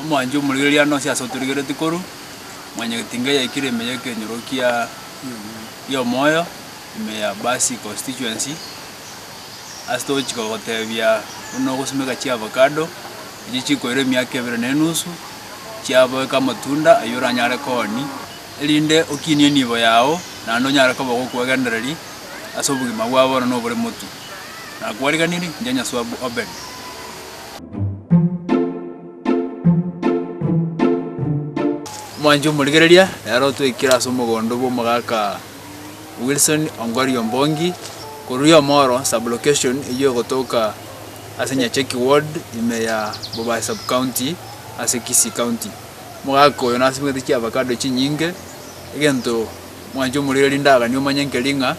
Omwanchi omorigereria ano nonsi ase otorigereretie koru mwanyagetinga eyaikire ime y'ekenyoro kia y'omoyo ime ya Basse constituency ase togochika gotebia buna ogosimeka chiavocado echi chikoira emiaka ebere na enusu chiaboeka amatunda aywo oranyare koonia erinde okinie enibo yago naende onyare koba ogokwegendereri ase obogima bwa bono na obore motwe. nakwariganirie, inche Nyasae bwa Obedi. Omwanchi omorigereria nere otwekire ase omogondo bw'omogaka Wilson Ongori Ombongi korwa Yomoro sub-location eywo egotoka ase Nyacheki ward ime ya Bobaso sub-county ase Kisii county. Omogaka oyo nasimegete chiavacado chinyinge egento Mwanche omorero rinde aganie omanye nkeri ng'a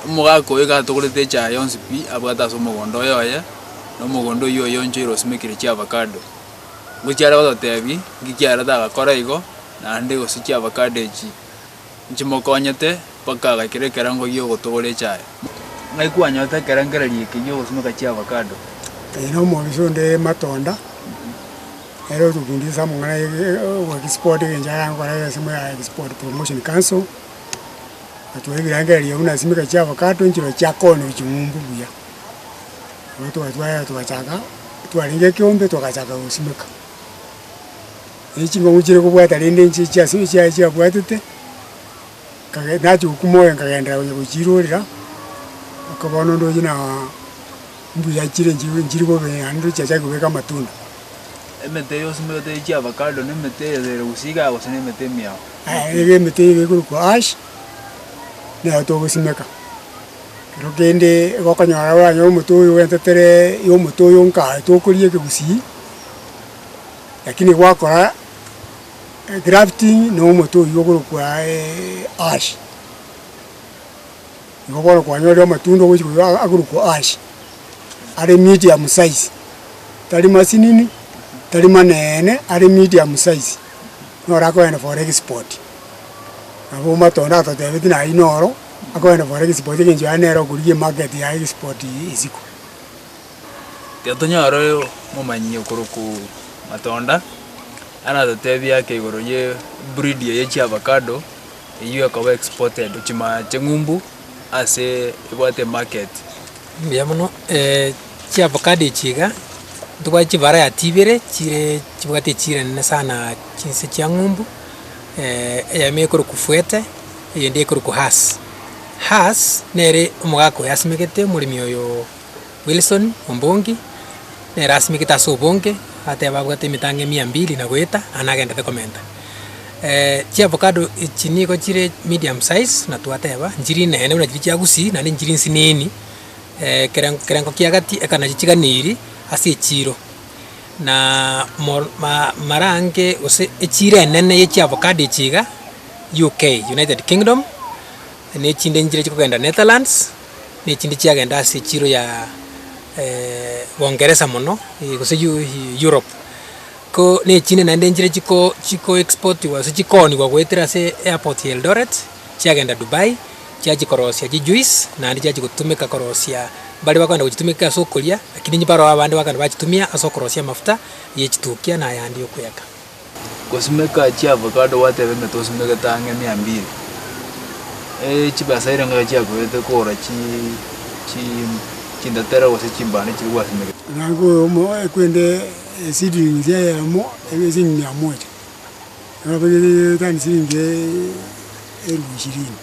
omogaka oyo iga atogorete echaye yonsi pi abwate ase omogondo oye oye, na omogondo oyio oye onchoire osimekire chiavacado. Ngochia are gototebi nki kiareta agakora igo, naende gose chiavacado echi nchimokonyete mpaka agaikera ekerango gia ogotogora echaye. Ng'ai kwanyotete ekerengererio eke gia ogosimeka chiavacado? Nere omobisa onde matunda. Nere otokundete ase amang'ana ay'egesporti egencho aragokora ase ensemo ya Export Promotion Council, atuha ebirengererio buna esimeka chia avocado nchirochio chiakoonire ching'umbu buya. Bono twatwarire twachaka, twarenge ekeombe togachaka gosimeka. Erio ching'umbu chire kobwata rende nche chia ase chia chiabwatete, kage nachi gokumore nkagenderera gochia gochirorera, mpaka bono ndoche naa. Mbuya chire enchirigwa enchiri bobe, naende tochiachake kobeka amatunda. Emete yonsi moyote ye chiavakado, na emete eye ere gose igaa, gose na emete emiao. Iga emete eye ekorokwa ash, nero togosimeka. Ekero kende igo okonyora oranyore omote oyo ogentetera omote oyo nka aye tokoria ekegusii, lakini gwakora egrafting na omote oywo okorokwa ash. Nigo bono kwanyorire amatunda ogochia koigoro aa akorokwa ash, are medium size, tari masinini, tari maneene, are medium size, na orakogenda for export. Nabo matunda atotebeti na aywo noro, akogenda for export egencho yaye nere okorigia emarket ya export eye isiko. Ekero tonyora oyo omomanyi okorokwa Matonda, aratotebie ake igoro ye breed eye ya chiavacado. eyio ekoba exported chimana ching'umbu ase ebwate market. Mbuya mono, chiavocado echi iga, ntobwati chivarayati ibere chire chibwate echira nene sana chinse chia ng'umbu, eyemo ekorokwa fuete, eyende ekorokwa hass. Hass nere omogaka oyo asimegete omoremi oyo. Wilson, ombongi, nere asimekete ase obonge, ateeba abwate emetang'e emia mbili na goeta, aya nagenderete komenta. Eh, chiavocado echi nigo chire medium size, na twateba, nchiri inene buna chiria chia Gusii, naende nchiri nsinini, eh, keren kerengo kia gati eka nachio chiganiri ase echiro. Na mor ma marange gose echiro enene ye chiavocado echi iga, UK, United Kingdom, na echinde nchire chikogenda Netherlands, nechinde chiagenda ase echiro ya Boongeresa mono, gose Europe. Ko nechinde naende nchire chiko chiko exportiwa gose chikooniwa goetera ase airport ya Eldoret, chiagenda Dubai, chiachia korosia chijuice, naende chiachia gotumeka korosia baria bakoenda gochitumeka ase okoria, lakini baroo abande bakogenda bachitumia ase okorosia amafuta yechitukia na ayande yokoyaka. Gosimeka chi'avocado gwateba ng'a tosimegete ang'e emia mbiri. Chibasairi ngaki chiakoete kogora chi chi chindatera gose chimbando chiria gwasimegete? Nabo oyomo ekwende eseedlings eye yamo ebe siling mia moja, tani siling elfu ishirini.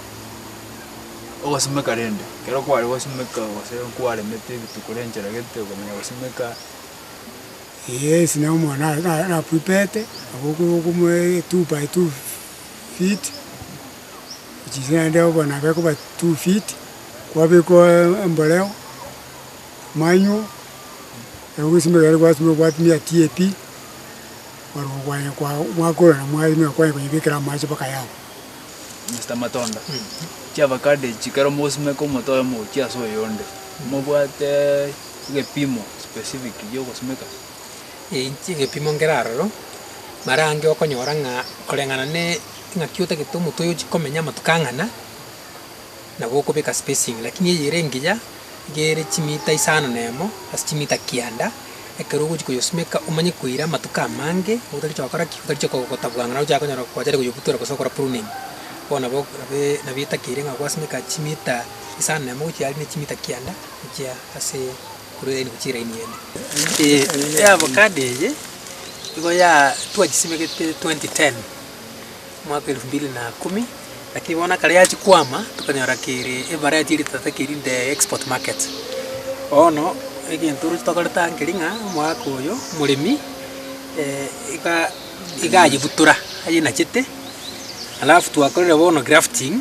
Ogosimeka rende, ekero kware gosimeka gose kwaremete rituko rincharagete okomanya gosimeka. Yesu na omwana arapwipete, nabo okomoa etupa two feet, echise naende obo nabe ekoba two feet, kwabekwa emboreo, manywo, ekero gwasimeka ekero gwasimeka gwatumia TAP, kwarwa kwanya kwa mwakora na mwairima kwanya koyebekera amache mpaka yaaku. Mister Matonda, chiavacado echi ekero mogosimeka omote oyomo gochia ase oyonde, mobwate. egepimo specific giogosimeka? Inche egepimo nkere aroro, marange okonyora ng'a koreng'ana ne ing'aki otagete omotwe oyochia komenya amatuko ang'ana, nabo okobeka spacing. Lakini eye ere engiya, iga ere chimita isano na emo ase chimita kianda, ekero ogochia koyosimeka omanye koira amatuko amange, otarichi gokora ki? Otarichi kogotabua ng'a nocha konyora gwachare koyobutora gose gokora pruning. Bono nabo nabo etakeire ng'a gwasimeka chimita isano na emo gochia aria ne chimita kianda. gochia ase korwa eraini gochia eraini ende. Ee avocado eye nigo ya twachisimegete 2010 mwaka elfu mbili na kumi lakini bono ekero yachia kwama tokonyora kere evariety eri totete keri in the export market. Bono egento oroche tokorete aa nkeri ng'a omwaka oyo omoremi iga iga ayebutora ayenachete alafu twakorire bono grafting.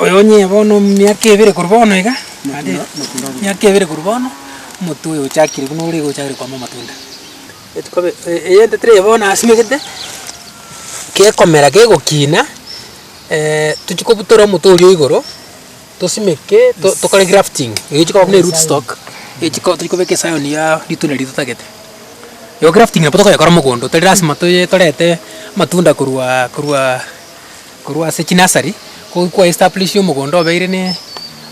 Oyo onye bono emiaka ebere korwa bono iga, naende emiaka ebere korwa bono, omote oyo ochakire buna ore iga ochakire koama amatunda. Etuko be eyende tiri bono asimegete, gekomera kegokina, tochi kobutora omote oria o igoro, tosimeke to tokore grafting, eye echi koba buna eroot stock, echi ko tochi kobeka esayoni ya ritunda riria totagete. Eye grafting nabo tokoyekora mogondo, tari lasima toye torete amatunda korwa korwa. Korwa ase chinasari, ko kwa establish omogondo obeire ne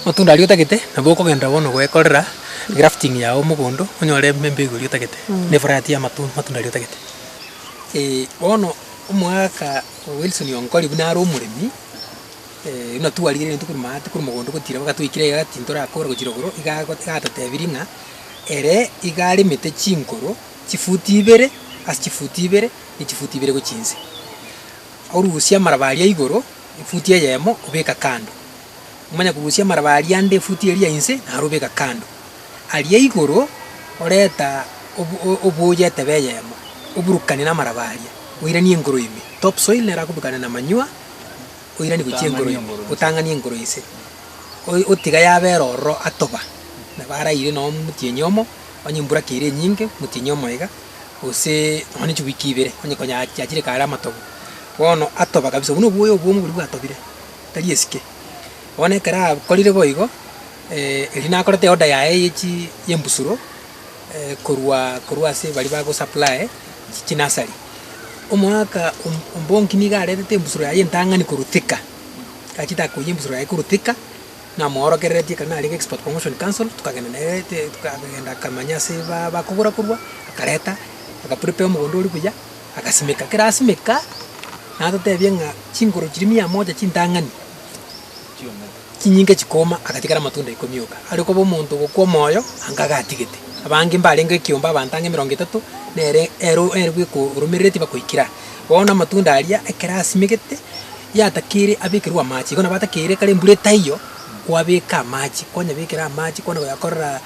matunda aria otagete, nabo okogenderera bono goekorera grafting yao omogondo onyore em- embegu eria otagete, ne variety ya matu matunda aria otagete. Eh, bono omogaka Wilson Onkori buna are omoremi, buna twarire rende korwa maate korwa mogondo gotira bagatwekera egaa tintorakora gochira igoro, iga ago iga atotebirie ng'a ere iga aremete chinkoro chifuti ibere ase chifuti ibere ne chifuti ibere gochia inse. Orusia amaraba aria igoro efuti eyemo, obeka kando. Omanye korusia amaraba aria ande efuti eria inse, naro obeka kando. Aria igoro oreta obuya etebe eyemo, oburukane namaraba aria, oiranie engoro ime. Top soil nero akobukane namanywa, oiranie gochia engoro ime, otang'anie engoro inse, otiga yabera ororo atoba, nabo araire nomotienyi omo, onye emburaka ere enyinge, motienyi omoiga. gose nonya ne chiwiki ibere, onye konya chiachire kare amatogo, bono atoba kabisa. Obwo nobwoya obwomo boria bwatobire, tari esike. Bono ekero akorire boigo, erio nakoreta eorder yaye ye chi yembusuro korwa korwa ase baria bago supply chi chinasari. Omwaka om ombongi nigo aretete embusuro yaye entang'ani korwa Thika, achete akoiyia embusuro yaye korwa Thika. Namoorokereretie ekero narenge Export Promotion Council, tokagenda nere te tokagenda akamanya ase ba bakogora korwa, akareta aka prepare omogondo oria buya, agasimeka. Ekero asimeka, natotebia ng'a chinguru chiria mia moja chintang'ani chinyinge chikooma, agatigara amatunda ikomi oka. Aria okoba omonto ogokwa omoyo, anga iga atigete. Abange mbarenge ekiombe abanto ang'e emerongo etato, nere ero eribu ekoromerereti bakoikire aa. Bono amatunda aria ekero asimegete, yatakeire abekerwe amache. Igo nabo atakeire ekero embura etaiyo, kwabeka amache, kwanyabekera amache kwana koyakorera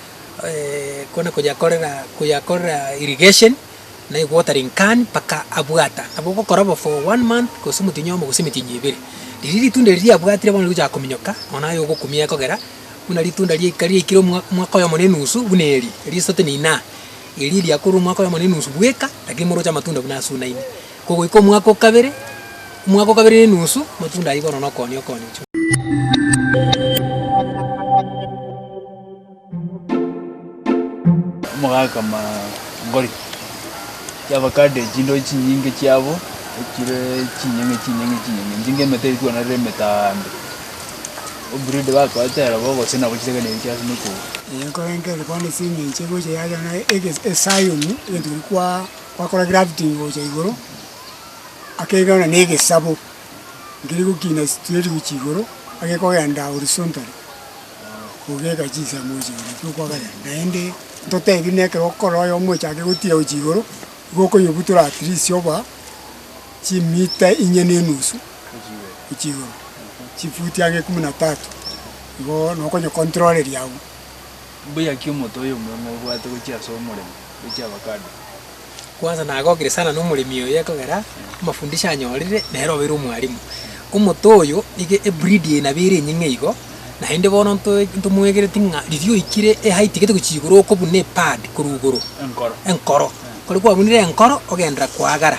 kwana koyakorera koyakorera irrigation na ewatering can mpaka abwata. Nabo ogokora obo for one month gose omoti onyomo gose emeti eye ebere. Riria ritunda eri riabwatire bono rigochaka kominyoka, nonye naye ogokumia ekogera, buna ritunda riaika riaikire omwa omwaka oyomo na enusu buna eri, risote na inaa. Erio eria akorwa omwaka oyomo na enusu bweka, lakini moroche amatunda buna asunaine. Kogoika omwaka o kabere, omwaka o kabere na enusu, amatunda ayio bono nokooni okooni ochwe. Omogaka Mangori yabakande chindori chinyinge chiabo, echire chinyeng'e chinyeng'e chinyeng'e, enching'e emete etuanarire emetaambe. Obridi bakoete ere bogochia nabo chitebe na ebichie ase nokoua. Nkoenkerere koa ase eng'encho egocha yacha na ege eSion, egento keria kwa kwakora grafting gocha igoro, akeirana na egesabo, nkeri gokina straight gochia igoro, agekogenda horizontally, kogeka chisemo gochia igoro ekero okwa kare, naende ntotebi na ekero okora oyo omochake gotira gochia igoro, igo okonyebutora at least oba, chimiita inye na enusu. gochia igoro, chifuti ang'e ekumu na tatu, igo nokonyekontroreria agwo. Mbuya ki omonto oyo omong'u obwate gochia ase omoremo gochia avakado? Kwanza nagokire sana nomoremi oyo ekogera amafundisho anyorire nere obeire omwalimu. Omoto oyo niga ebreed eye nabo ere enying'e igo, naende bono ntoe ntomwegereti ng'a riria oikire eheight gete gochia igoro okobuna epad korwa igoro. Enkoro. Enkoro. Ekero kwabunire enkoro ogenderera koagara.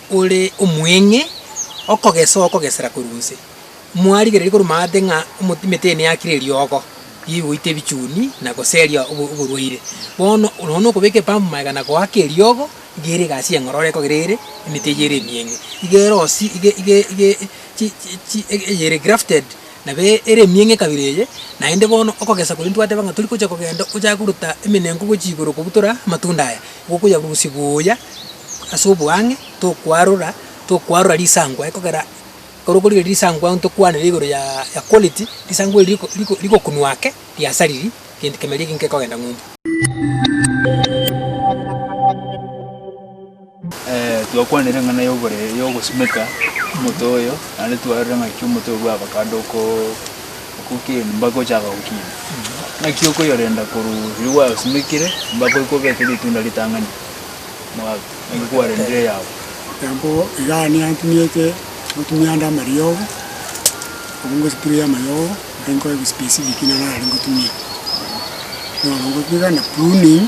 ore omweng'e, okogesa okogesera korwa inse. Mwarigereria korwa maate ng'a omo- emete eye neyakire eriogo rigoita ebichuni na goseria obo- oborwaire. Bono oro nonya okobeka epambu magega na goaka eriogo, iga ere egasi eng'oro ore ekogera ere emete eyio ere emieng'e. Iga ere osi iga iga iga chi chi chi eye ere grafted Nabo ere emieng'a ekabere eye, naende bono okogesa koria ntwateba ng'a tori gocha kogenda ochake korota emenenku gochia igoro kobutora amatunda aya, gokoyarusia buya ase oboang'e, tokwarora tokwarora risankwa ekogera ekero okorigereria risankwa ntokwanere igoro ya ya quality, risankwa eri riko riko rikokunwa ake, riasariri, egento kemeriri ekio nkekogenda ng'umbu. Twakwanire eng'ana y'oborere y'ogosimeka omote oyo, naende twarorire ng'aki omote oyo bwabakande okokina, mpaka ochaka gokina. Naki okoyorenda korwa riria gwaosimekire mpaka oike obeke ritunda ritang'ani mwabo, naki kwarendire eyabo. Nabo iga nantuniete ngotumia ande amariogo, obwo ngospraye amayogo ande nkoe specific nang'o nare ngotumie. Bono ngotumia iga na pruning.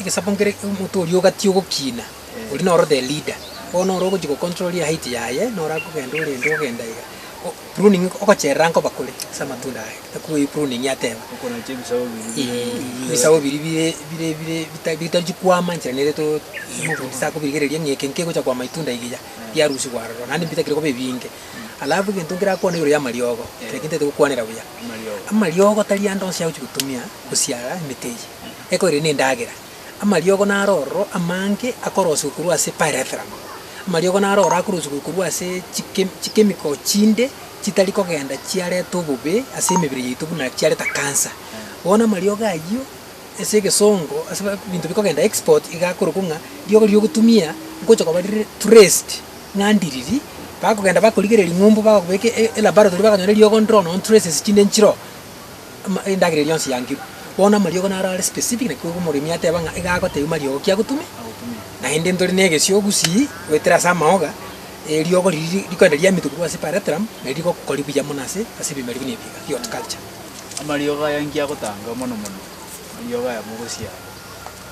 egesaku nkere omonto oria ogati ogokina, oria noro the leader. Bono noro ogochi go control height yaye, noro akogenda orende ogenda iga. O- pruning ogocherera nkoba kore ase amatunda aye, ekwo eye pruning ateba. Okonacha ebisago biria bire Eeh, ebisago ebisago biri bire bire bire bita bitarichi kwama enchera nere to omofundisi akobirigereria ng'a eke nkegocha kwama itunda iri ya, riarusigwa aroro, naende mbitakire koba ebinge. Alafu egento nkerakwane igoro y'amariogo, kera ekinto gete gokwanera buya. Amariogo tari ande onsi agochia gotumia gosiara emete eye, eko ere nendagera. Amariogo naro ororo amange akorosiwa korwa ase pyrethrum. Amariogo naro ororo akorosiwa korwa ase chike chikemiko chinde chitari kogenda chiareta obobe ase emebere yaito buna chiareta cancer. Bono amariogo ayio ase egesongo ase ebinto bikogenda export iga akorokwa ng'a riogo riria ogotumia ngocha koba rire traced. ng'a ndiriri, bakogenda bakorigereria ring'umbu, bagobeka e- e- elaboratory, bakanyora eriogo ndiro nonya traces chinde nchire oo, ama- endagera eria yonsi yangirwe. Bono amariogo naro are specific, naki oigwa omoremi ateba ng'a iga agotebiwa mariogo ki agotumia, naende ntore na egesio gusii, goetera ase amaoga, eriogo riria rikoenda riamitwe korwa ase epareterum, nari rigokori buya mono ase ase ebimeri buna ebi iga bia horticulture. Amariogo aya inki agotanga mono mono, amariogo aya mogosiara?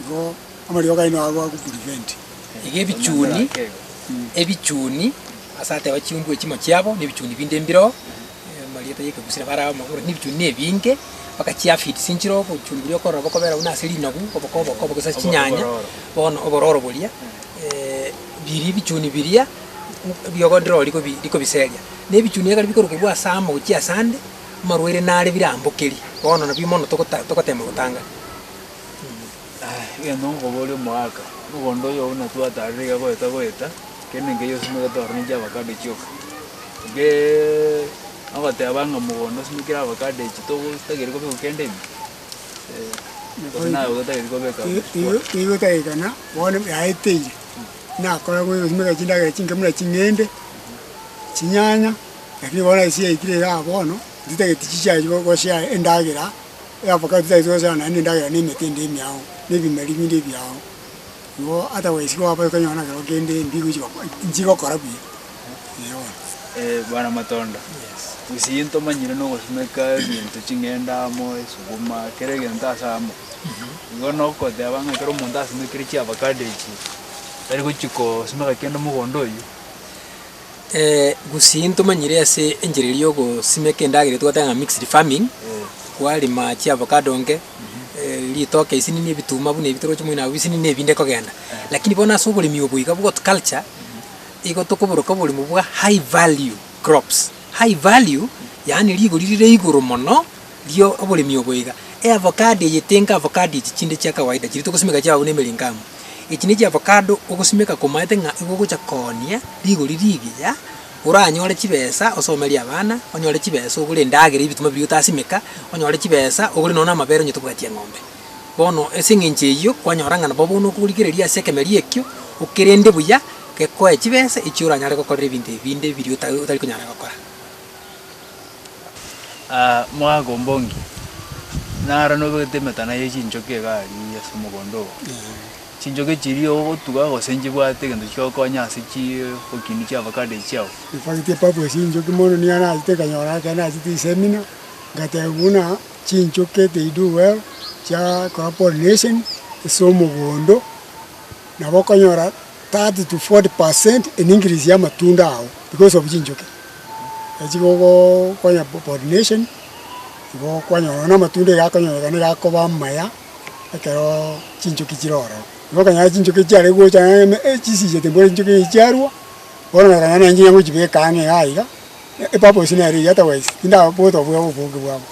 Igo amariogo aino agwo agokuriventi. Iga ebichuni ebichuni ase ateba chiungu echimo chiabo, nebichuni binde mbireo, amarieta y'ekegusero bare amo, ore nebichuni nebinge, bakachiafidi chinchiro, obochuni boria okorora bokobera buna ase rinagu, oboko oboko oboko ase chinyanya, bono obororo boria biria ebichuni biria riogo ndiro riko rikobiseria. Na ebichuni ekero bikorukorwa ase amo gochia ase ande, amarwaire nare birambokerie, bono nabio mono togota togotema gotanga. Egento nkoboria omoaka, mogondo oyo buna twatarire iga goeta goeta, kende nkeiyo osimegete ororo ninche avacado echi oka. Egee ogoteba ng'a mogondo osimekire avacado echi togo tageri kobeka kende ime? Eh, gose naye otageti kobeka Igo igo otaegekana bono yaeteire, nakora gose gosimeka chindagera chinke buna ching'ende, chinyanya, lakini bono ase yaikire igaa bono, ntitageti chichia gochia endagera. Eabakati taeti gochana naende endagera na emete ende emiao, na ebimeri binde ebiao. Igo ata goesi goaba tokonyora na kero kende mbi gochi gokora, nchi gokora buya, eeh bono. Eh bwana Matondo, gose gento omanyire na ogosimeka egento ching'ende amo, esuguma, kera egento ase amo. Igo nogoteba ng'a ekero omonto asimekire chiavakado echio, tari gochi kosimeka kende mogondo oyio. Gusii ntomanyire ase enchera eria yogosimeka endagera eria twateba ng'a mixed farming, kwarema chiavocado nke, ritoke isinini ebituma buna ebi toroche moino abwo bisinini ebi binde kogenda. Lakini bono ase oboremi obo iga bwa horticulture, igo tokoboroka oboremo bwa high value crops. High value, yaani rigori rire igoro mono. ria oboremi obo iga, eavocado eye tenka avocado echi chinde chia kawaida chiretwe gosimeka chiababu na emerengo amo. Echi ne chiavocado ogosimeka komaete ng'a igo ogocha koonia rigori rigiya, oranyore chibesa osomerie abana, onyore chibesa ogore endagera ya ebituma biria otasimeka, onyore chibesa ogore nonya na amabere onyete obwatia eng'ombe. Bono ase eng'encho eyio, kwanyora ng'a nabo bono okorigereria ase ekemeria ekio, okerende buya, gekoe chibesa echio oranyare gokorera ebinto ebi binde biria ota otari konyara gokora. Omogaka o Mbongi, naro nobegete emetana ye chinchoki iga aria ase omogondo oo, chinchoki chiria ogotuga gose nchibwate egento chigokonya ase chiiee okindu chia avacado echi chiao. Nfagete epapu ya chinchoki mono nigo nagachete nkanyora ekero nagachete esemina, ngateba buna chinchoki eke ido well chiakora pollination ase omogondo nabo okonyora. 30 to 40 percent in increase ya amatunda ao because of chinchoki echi gokonya pollination igo kwanyora nonya amatunda iga akonyorekana iga akoba amaya ekero chinchoki chire ororo. Igo okonyora chinchoki echi chiarenge gocha nonya eh chisichete mbwenu chinchoki echi chiarwa, bono na ekonyora nonye ngochibeka ang'e iga iga epurpose nere eyio otherwise tindabwate obonge bwabo.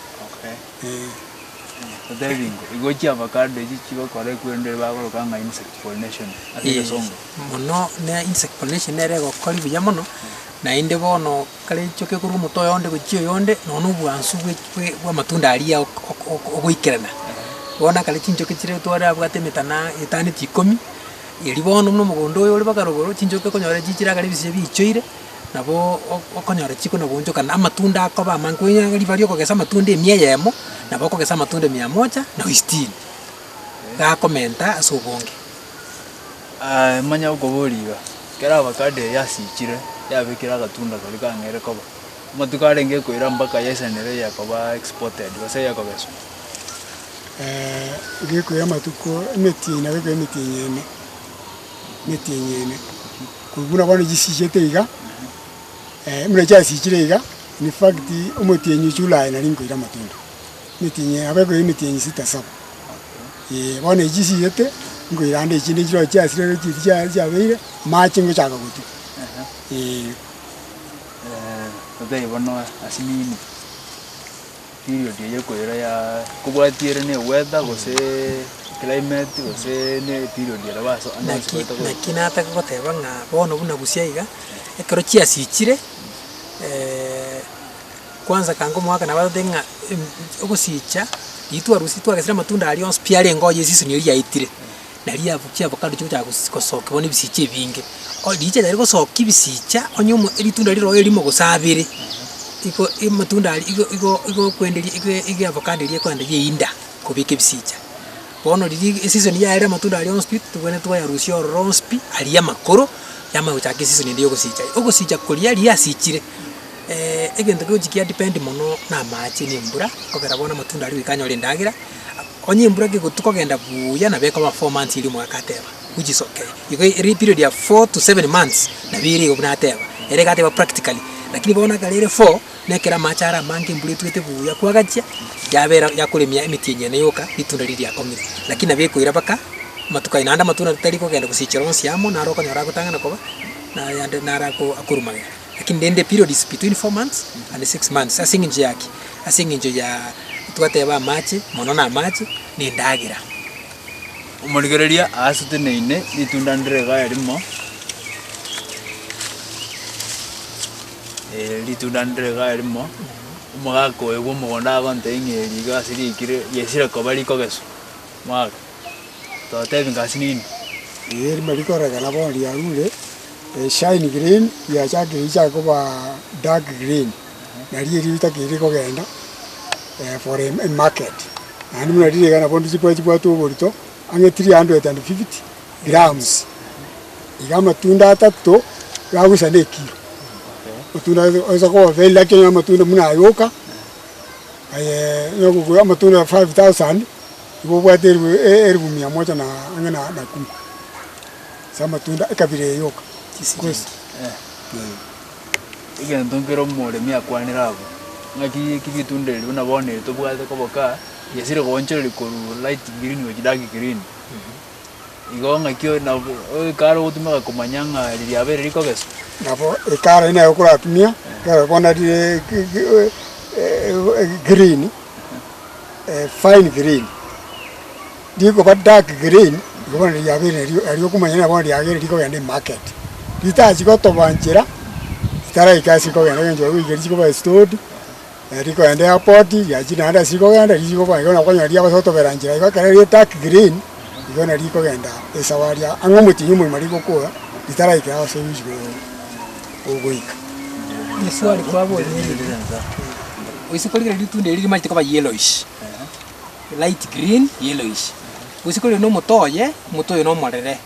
Mono na insect pollination nere egokori buya mono, naende bono kare enchoka ekorwa omote oyo onde gochia oyonde, nonya na obwansu bwe bwe bw'amatunda aria ok ok ok ogoikerana. Bono ekero chinchoki chire twarabwate emetana etano echikomi, erio bono buna omogondo oyo ore baka rogoro, chinchoki okonyora chichire akare ebisige biichoire. nabo okonyora chiko na goonchokana, amatunda akoba amange. Konya ribaria okogesa amatunda emia eyemo, nabo okogesa amatunda emia moja na sitini, iga akomenta ase obonge. manya okoboria iga, ekero avocado eye yasichire, yabekire agatunda karia kang'eire koba, amatuko arenge koira mpaka yaisanere eyekoba exported gose eyekogeswa. gekoira amatuko emetienyi nabo ekoira emetienyi ene, emetienyi ene. Buna bono chisichete iga, buna chiasichire iga, in fact omotienyi ochia Ulaya nari nkoira amatunda. Emetienyi eye abekoire emetienyi sita saba. Eeh bono echi chisichete, nkoira ande echinde nchiroche chiasire ore chiria chia chiabeire, amache ngochaka gotwa. Eeh. period eye ekoira ya kobwatia ere ne weather gose climate gose ne period ere baso ande onsi Naki goetogete. naki nataka goteba ng'a bono buna gusii aiga, ekero chiasichire kwanza kanga omogaka nabo agote ng'a em- ogosiicha, riria twarusirie twagesire amatunda aria onsi pi arenge oo ye season eria yaetire. Na riabu chiabo kando chigochaka gos- gosokigwa nebisicha ebinge, o riiche riaye rigosokia ebisicha onye omo eritunda riroe erimo gose abere, iko amatunda aria igo igo igo okwenderia igo igo avocado eria ekorenda yeinda kobeka ebisicha. Bono riria ege eseason yaye ere amatunda aria onsi pi totwenerete koyarusia ororo onsi pi aria amakoro, yamanya gochaka eseason ende ya ogosicha. Ogosicha koria riria yasichire, egento kegochia kiadependi mono na amache na embura, okogera bono amatunda aria goika anyore endagera. Onye embura gegotu kogenda buya nabo ekoba four months erio omogaka ateba which is okay. Igo ere eperiod ya four to seven months nabo ere igo buna ateba. Ere iga ateba practically. Lakini bono ekero ere four nekero amache are amange embura etwete buya kwagachia yabera yakoremia emeti enyene yoka ritunda riria riakong'ire. Lakini nabo ekoira baka amatuko aye naende amatunda tari kogenda gosichera onsi amo naro okonyora agotang'ana koba nare ande nare akorwa magega. Lakini rende a period is between four months and six months. Ase engencho yaki? Ase engencho ya, twateba amache, mono na amache, na endagera. Omorigereria aasete na ine ritunda ndire iga erimo, eh, ritunda ndire iga erimo, omogaka oye bw'omogondo agontebia ng'a eri iga ase riaikire riaisire koba rikogeswa, mwaka. totebi ng'a ase nini. Ee, rimo rikoreng'ana bono riarure, shine green riachakire richake koba dark green, nario erio ritakiri rikogenda for a market. Naende buna riire iga nabondo chibwae chibwate oborito ang'e three hundred and fifty grams. Iga amatunda atato iragusa na ekiro. Amatunda osa koba very lucky nonya amatunda buna ayoka aye nonya kogura amatunda five thousand. nigo obwate eribu eribu mia moja na ang'e na na kumi ase amatunda ekabira eye yoka. Chisiringi. Eeh. Egento nkere omoremi akwanera abwo, ng'aki eki bitunda ebi buna bono ebi tobwate koboka, gesire goonchoreria korwa light green gochia dark green. Igo ng'aki o- nabo o- ekare ogotumeka komanya ng'a riria riabeire rikogeswa. Nabo ekare eye naye okoratumia, ekero okobona rire ki- ki e- e- e- green, fine green, rikoba dark green, igo bono riria riabeire nario aria okomanya ng'a bono riagere rikogenda emarket. Ritachi gotoba nchera, ritaraika ase rikogenda eng'encho barabwo rigeri rikoba restored. Na rikoenda Airport riachire naende ase rikogenda riria rikoba igo nokonyora riagosotobera nchera igo ekero rire dark green igo nari rikogenda esawa aria ang'e omotienyi omogima rigokora ritaraika ase omochie korwa ogoika. Eswali kwaboria erire, gose kori kera ritunda erio rimarete koba yellowish, light green yellowish, gose kore na omote oye, omote oye nomorere.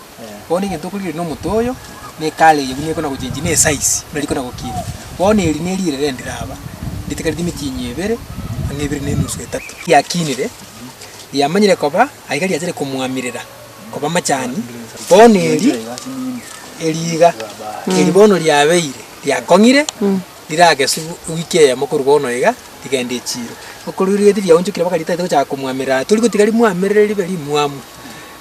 Bono egento okorigia eri nomote oyo, na ekare eye buna ekona gochengi, na esize buna rikona gokina. Bono eri neri ere rende raba, ritigari rimichinyia ebere, onye ebere na enusu etato. Riakinire, riamanyire koba aye iga riachire komoamirera koba amachani. Bono eri, eri iga, eri bono riabeire riakong'ire, rirageswa wiki eyemo korwa bono iga rigende echiiro. Okorigia riaonchokire mpaka ritaete gochaka komoamerera, aye torigotiga rimoamerere ribe rimwamu.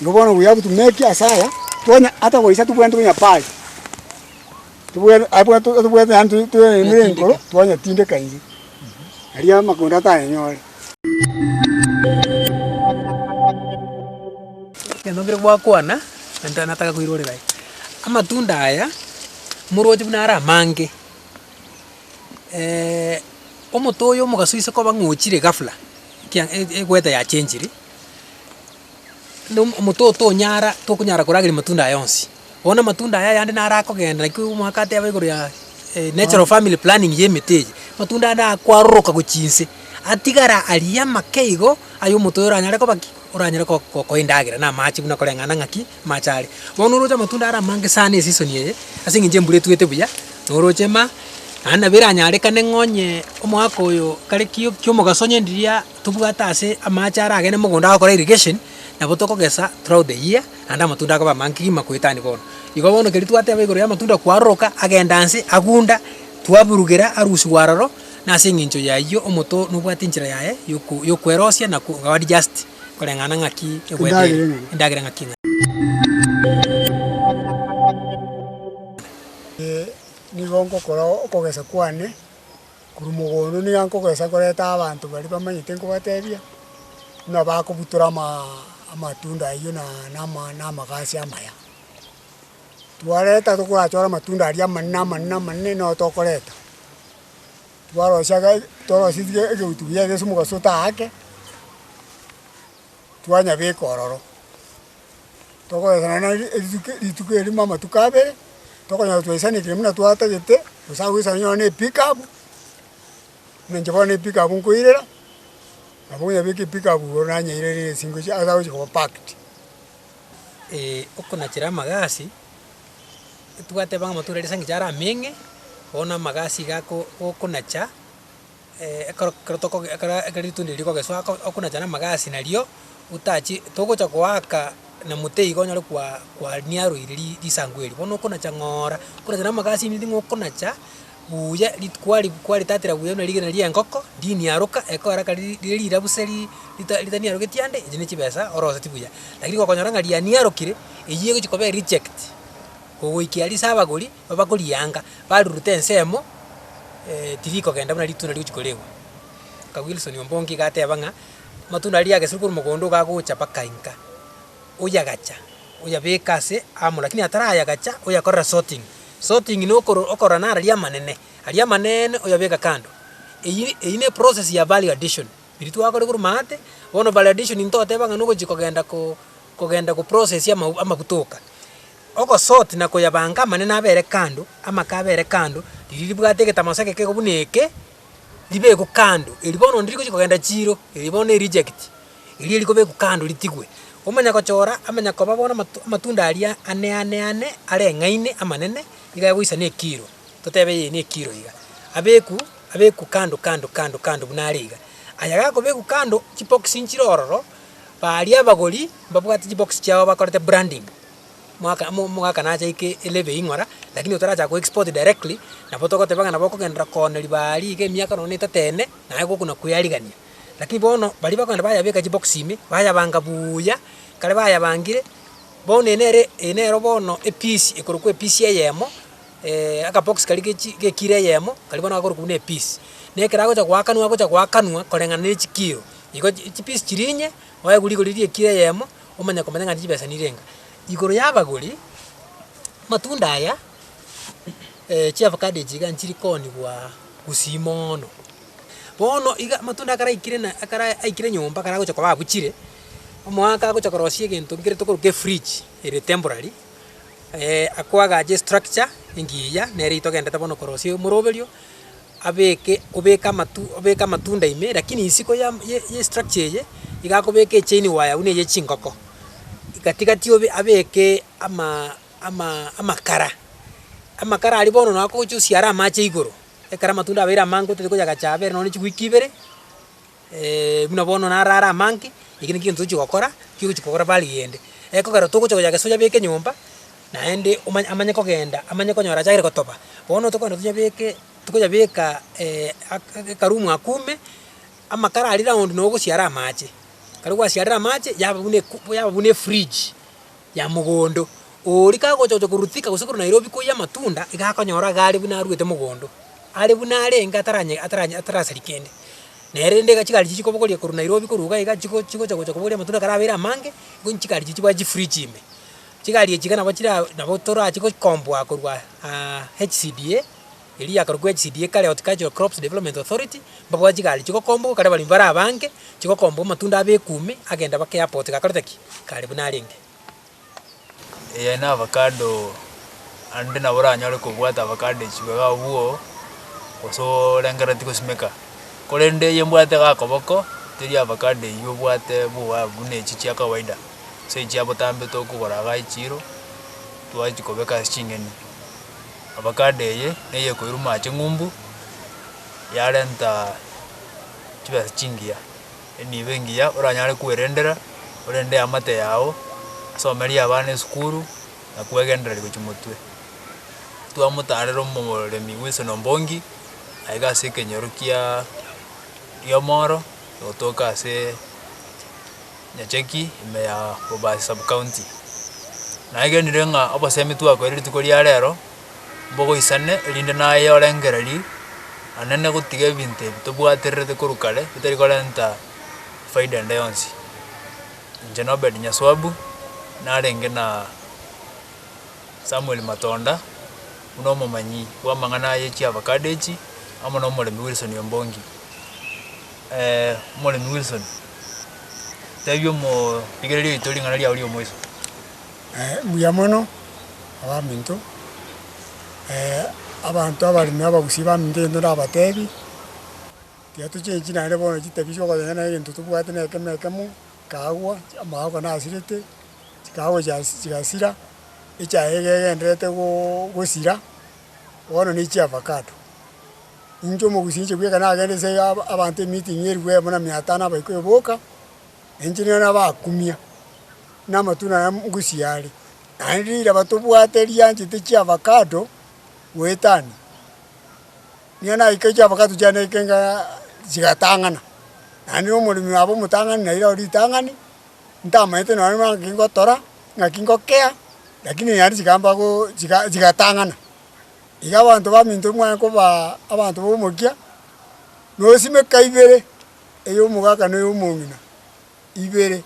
Nigo bono buya abwo tumetie ase aya, twanya ata goisa tobwenerete konya pari, tobwene abwo tobwene yaani tore tore emera enkoro twanyetindeka eria, erio amagondo atayenyore. Ekero bire gwakwana, naende nataka koirorera aye, amatunda aya, moroche buna are amange, omote oyo omogaso oise koba ng'a ochire ghafla, ekiya e- e- eweather yachenchire. na omote oyo tonyara tokonyara korageria amatunda aya onsi. Bono amatunda aya ayande naro akogenda naki omogaka ateba igoro ya natural family planning ya emete eye, amatunda ande akwaroroka gochia inse, atigara aria amake igo, aye omote oyo oranyare koba ki? Oranyare ko kokoa endagera na amache buna koreng'ana ng'aki amache are. Bono oroche amatunda are amange sana eseason eye, ase eng'encho embura etwete buya, noroche ma, naende nabo eranyarekane ng'a onye omogaka oyo kare ki kiomogaso onye riria Tobwate ase amaache are agene mogondo agokora irrigation, nabo tokogesa throughout the year, naende amatunda akoba amange kegima goetania bono. Igo bono ekeri twateba igoro y'amatunda kwaroroka agenda inse agunda, twaburugera arusigwa aroro, nase eng'encho y'ayio omonto oo nobwate enchera yaye yoku yokwerosia na ko adjust koreng'ana ng'aki egwete ere, endagera ng'aki eng'ane. Nigo ngokora okogesa kwane Korwa mogondo niga nkogoesa koreta abanto baria bamanyete nkobatebia, buna bakobutora amaa amatunda ayio na nama namagasi amaya. Twareta tokorachore amatunda aria amanene amanene amanene nao tokoreta, twarosia ga twarosia tige egeutu giaye ase omogaso otaake, twanyabeka ororo. Tokoesana na rituko rituko eri buna amatuko abere, tokonyora twaisanekire buna twatagete, gose agoisana onyore na epick up, buna inche bono epick up nkoirera, nabo onyabeka epick up igoro nanyeira ere nesingo esia ase agochia koba packed. Eeh okonachera amagasi, totwateba ng'a amatoro aria ase eng'encho arameng'e, bono amagasi iga ako okonacha. Ekero ekero tokoge ekero ekero ritunda rigogeswa ko okonacha namagasi nario, otachi togocha goaka na mote iga onyare kwa kwaniaroiri ri risangu erio, bono okonacha ng'oora, okonacha na amagasi ominto ng'a okonacha buya rit kwari kwaritatera buya buna rigena ria engoko, riniaroka ekogera kari ri riria rirabu serii rita ritaniarogeti ande, echi ne chibesa oroseti buya. Lakini gokonyora ng'a rianiarokire, eyio egochi koba erichekti, kogoikera ase abagori, Bakorianga, bariruta ensemo tirikogenda buna ritunda rigochia koregwa. Nka Wilson Ombongi iga ateba ng'a, amatunda aria yageseirwe korwa mogondo iga agocha mpaka inka, oyagacha, oyabeka ase amo lakini atarayagacha oyakorera sorting. Sorting na okoro okorora naro aria amanene, aria amaneene oyabeka kando. Eyiri eyio ne eprocess ya value addition, eri twakore korwa maate, bono value addition ntoteba ng'a nogochia kogenda ko kogenda koprocessia amau amaguta oka. Ogosoti na koyabanka amanene abe erekando, amaka abe erekando, riria ribwate egetamaso egekego buna eke, ribekwe kando. Eri bono ndiri gochia kogenda chiiro, eri bono ne reject, eria erikobekwa kando ritigwe. Omanya gochora, amanya koba bono amato amatunda aria ane ane ane are eng'aini amanene, nigo agoisa ne kilo, totebe eye ne kilo iga. Abekwe, abekwe kando kando kando kando buna are iga. Aya gakobekwa kando, chibokisi nchire ororo, baria abagori mbabwate chibokisi chiabo bakorete branding. mwaka mo omogaka nacha eke elebe ing'ora, lakini otarachaka koexport directly, nabo togoteba ng'a nabo okogenderera koona ribaa eria iga emiaka nonya etato ene, naye gokona kweyarigania. Lakini bono, baria bakogenda bayabeka chibox ime, bayabanga buuya, ekare bayabangire, bono eye nere eye nero bono epiece ekorokwa epiece eyemo akabox karia ge chi gekiro eyemo, karia bono gakorokwa buna epiece. Na ekero agocha goakanwa agocha goakanwa koreng'ana ne chikiro. Igo chi chipiece chiria inye, oewa rigori riria ekiro eyemo, omanye komanya ng'a nchibesa nirenga. Igoro y'abagori, amatunda aya chiavocado echi iga nchiri koonigwa gusii moono. Bono iga amatunda akaraikire na akara aikire nyomba karagocha koba abuchire, omwaaka agocha korosia egento nkere tokoruga efridge ere temporary, ako agache estructure engiya nere togende bono korosia omoroberio. abeke obeke amatu obeke amatunda ime, lakini isiko ya ye ye structure eye, iga akobeka echain wire buna eye chingoko, gati gati obe abeke ama ama amakara, amakara aria bono nagocha osiare amache igoro, ekero amatunda abeire amange otari koyagacha abere nonye chigwiki ibere. buna bono naro are amanke, eki nakio gento tochi gokora, ki ogochi kogora bare rende. Ekogera togocha koya gese oyabeke nyomba, naende omanye amanye kogenda, amanye konyora achagire gotoba. Bono tokogenda toyabeke, tokoyabeka aka ekarumu aka ume, amakara aria round nogosiara amache. Ekero gwasiarire amache, yaba buna eku yaba buna efridge. ya mogondo oo rikagocha-gocha korwa Thika gose korwa Nairobi koiyia amatunda, iga akonyora iga are buna aruete mogondo, are buna arenge ataranye ataranye atarasari kende. Nere rende iga chigari chichia kobogoria korwa Nairobi korwa iga iga chigo chigocha gocha kobogoria amatunda karabeire amange, igo nchigari chichio bwa chifridge ime. Chigari echi iga nabo chira nabo torache goikomboa korwa aa HCDA. Eria yakarokwa HCDA ekare, Horticultural Crops Development Authority, mbabwate chigari chigokombwa gokara abaremi bare abange, chigokombwa amatunda abe ekuumi agenda bake airport gakorete ki? Kare buna arenge. Eya na avacado ande nabo oranyore kobwata avacado echio iga abwo gose orengereti gosimeka korende eye mbwate iga akoboko teri avacado eywo obwate boa buna echi chia kawaida gose echi chia botambe tokogora iga echiro twachikobeka ase ching'eni. Avocado eye neye ekoiruma aa ching'umbu, yarenta chibesa chingiya, enibo engiya oranyare kwerendera, orende eamate yago, osomerie abana esukuru, na kwegendereri gochia motwe. Twamotarera omoremi bw'esona mbongi, aye gase ekenyoro kiaa giomoro, gotoka asee. Nyacheki ime ya Bobasi Sub-County. Nagenire ng'a obosemi twakoire rituko ria rero, mbogoisane erinde naye orengereria Anene gotiga ebinto ebi tobwatererete korwa kare bitari korenta faida ende yonsi. Inche na Obed Nyaswabu, narenge na Samuel Matonda, buna omomanyi bw'amang'ana aye chiavacado echi, amo na omoremi Wilson Ombongi. Omoremi Wilson, tebia omorigereria oito ring'ana riao ri'omoiso. Mbuya mono, abaminto, abanto abaremi na abagusi baminto egento ndabatebi, tiga tochengi naende bono chitebi chi'okoteeba ng'a egento tobwate na ekemo ekemo, chikaagwa, amagooko nasirete, chikaagwa chigasira, echaye iga egendererete gosira, bono ne chi'avacado. Inche omogusi inche bweka nagende nse ya abanto emiiting eriku emo na mia atano abaikoyo boka, na inche nigo nabakumia, na amatunda naye ngusie are. Naende riraba tobwate rianchete chiavakado goetania, nigo naika chiavakado chiane naikengaaaa chigatang'ana, naende na omoremi oye abe omotang'ani na riraba ritang'ani, ntamanyete nonye naki ngotora, naki ngokea, rakini naende chikambagoo chiga chigatang'ana. iga abanto baminto imwanya kobaa abanto b'omokia, nosimeka ibere, eyomogaka na eyomong'ina, ibere,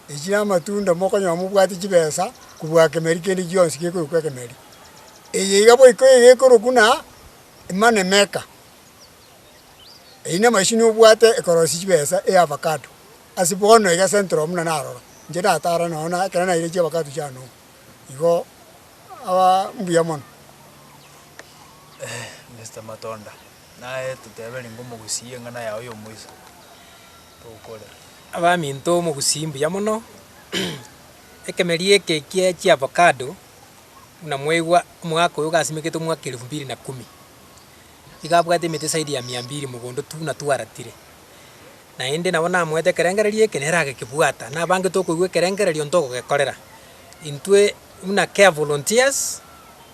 echi namatunda mokonyora mobwate chibesa kobua kemeri kende gionsi gekorokwa ekemeri. Eye iga boiko iga ekorokwa na, money maker, eyio na emachine obwate ekorosia chibesa eya avacado, ase bono iga central buna narora, inche natara nonya ekero naire chiavacado chiane oo. igo aba mbuya mono. Mister Matonda, naye toteberie ng'a omogusii eng'ana yao y'omoisa tokore. Abaminto omogusii mbuya mono, ekemeria eke kie chiavocado buna mwaigwa omwaka oyo gasimekete omwaka elfu mbili na kumi, iga abwate emete zaidi ya mia mbili mogondo tu buna twaratire. Naende nabo namoete ekerengererio eke nere agekebwata, nabangete okoigwa ekerengererio ntogogekorera intwe buna Care Volunteers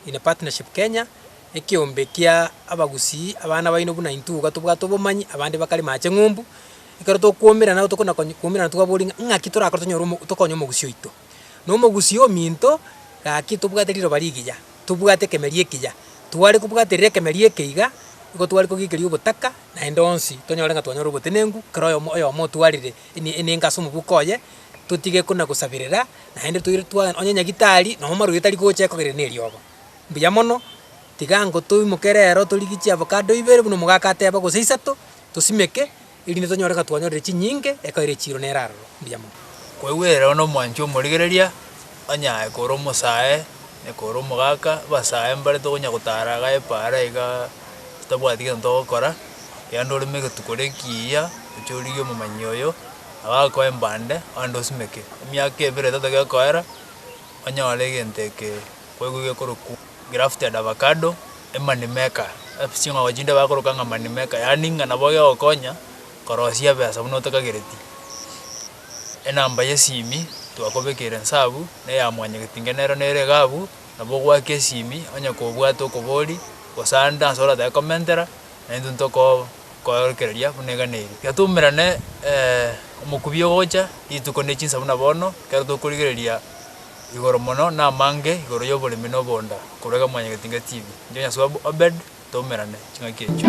in Partnership Kenya, ekeombe kia abagusii abana baino buna intwe iga tobwate obomanyi abande bakarema ache ng'umbu, ekero tokwoumerana, tokonya konya kwoumerana twaboria ng'a ng'aki torakore tonyore omo tokonye omogusii oito. Nomogusii ominto, Gaki tobwate riroba rigiya, tobwate ekemeria ekiya. Tware kobwaterera ekemeria eke iga, nigo tware kogiikeria ogotaka, naende onsi tonyore ng'a twanyora obotenenku, kera oyomo oyomo otwarire eni enengo ase omobuko oye, totige kona gosabirera, naende toire twa onye nyagitari, na omarwaire tari gocha ekogerera na eriogo. Mbuya mono, tiga ango toimoke rero torigie chiavocado ibere buna omogaka ateba, gose isato, tosimeke. erinde tonyore ng'a twanyorire chinyinge ekaire echiiro nere aroro. Mbuya mono. Kwegwera one omwanchi omorigereria, onye aye kore omosae, onye kore omogaka, abasae mbare tokonya gotara iga epa ara iga totabwati gento togokora, erinde oreme egetuko gete ekiya, oche origie omomanyi oyo, agakoe mbande, abande osimeke. Emiaka ebere etato egekoera, onyore egento eke kwaigwa iga ekorokwo. grafted avocado, e money maker, ebi ching'ogo chinde bakoroka ng'a money maker, yaani ng'a nabo egegokonya korosia ebesa buna otakagereti. Enamba y'esimi twakobekeire nsabu, na eya mwanyagetinga nero nere iga abwo, nabo ogoaka esimi onye kobwate okobori, gose ande ase oratake komentera, naintwe ntokoo koorokereria buna iga na erio. Iga twaumerane omokubi ogocha rituko ne chinsa buna bono, ekero tokorigereria. Igoro mono namange igoro y'oboremi na obonda korwa iga Mwanyagetinga TV. Inche Nyaswabu Obed twaumerane ching'aki echio.